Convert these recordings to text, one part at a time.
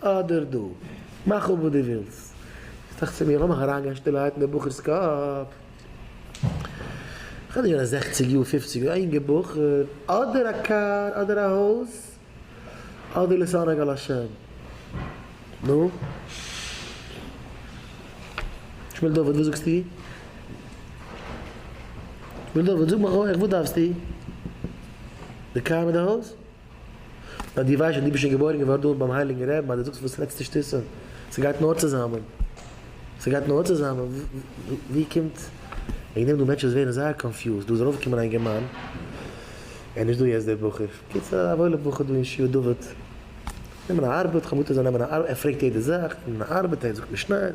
אדער דא. מאך אפ וואס דו ווילסט. איך טראכט צו מיר, לאמיך אריינגיין שטילערהייט אין דעם בחור'ס קאפ. כ'בין נישט געווען זעכציג יאר, פופציג יאר, א יונגער בחור. אדער א קאר, אדער א הויז, אדער להתענג על השם. נו? שמואל דוד, וואס זאגסטו? שמואל דוד, זאג מיך אויך, וואס דארפסטו? די קאר מיט די הויז? ביי דיר ווייסט מען דו ביסט שוין געבוירן געווארן דארט ביים הייליגן רעבן אז דו זאגסט וואס רעדסטו שטותים ס'גייט נאר צוזאמען ס'גייט נאר צוזאמען ווי קומט וועגן דעם דא מענטשן וואס ווערן זייער קאנפיוזד דא איז ארויפגעקומען א אינגערמאן ער נישט דא יעצט דער בחור קיצור א וואוילע בחור דא אין שיעור דוד נעמען א ארבעט כ'האב מוטער זיי נעמען א ארבעט ער פרעגט יעדע זאך נעמען א ארבעט ער זאגט משניות.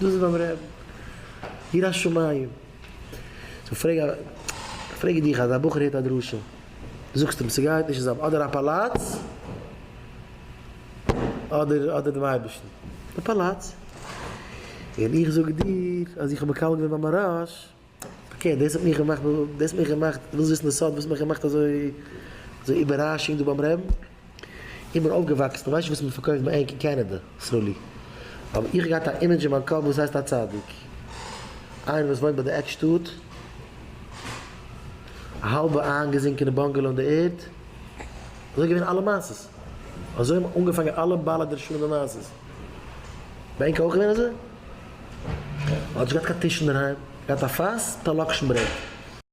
דאס איז ביים רעבן יראת שמים. סאו פרעג א פרעג איך דיך אז א בחור הערט א דרשה זאגסט אים ס'גייט נישט זיין אדער א פאלאץ אדער אדער דעם אייבערשטן די פאלאץ און איך זאג דיר אז איך האב מקבל געווען ביי מהרש אקעי דאס האט מיך געמאכט דאס האט מיך געמאכט ווילסט וויסן די סוד וואס האט מיך געמאכט אזוי אזוי איבעראשונג דא ביים רעבן? איך בין אויפגעוואקסן ווייסט נישט וואס מען פארקויפט ביי ענק אין קענעדע סרולי אבער איך האב געהאט א אימעדזש אין מיין קאפ וואס הייסט א צדיק איינער וואס וואוינט ביי די עק שטאט א האלבע איינגעזינקענע באנגעלא אין די ערד אזוי געווען אלע מעשות אזוי האבן אנגעפאנגען אלע בעלי דרשנים און מעשות ביי ענק אויך געווען אזוי? האט נישט געהאט קיין טיש אינדערהיים, געהאט א פאס מיט א לאקשן ברעט.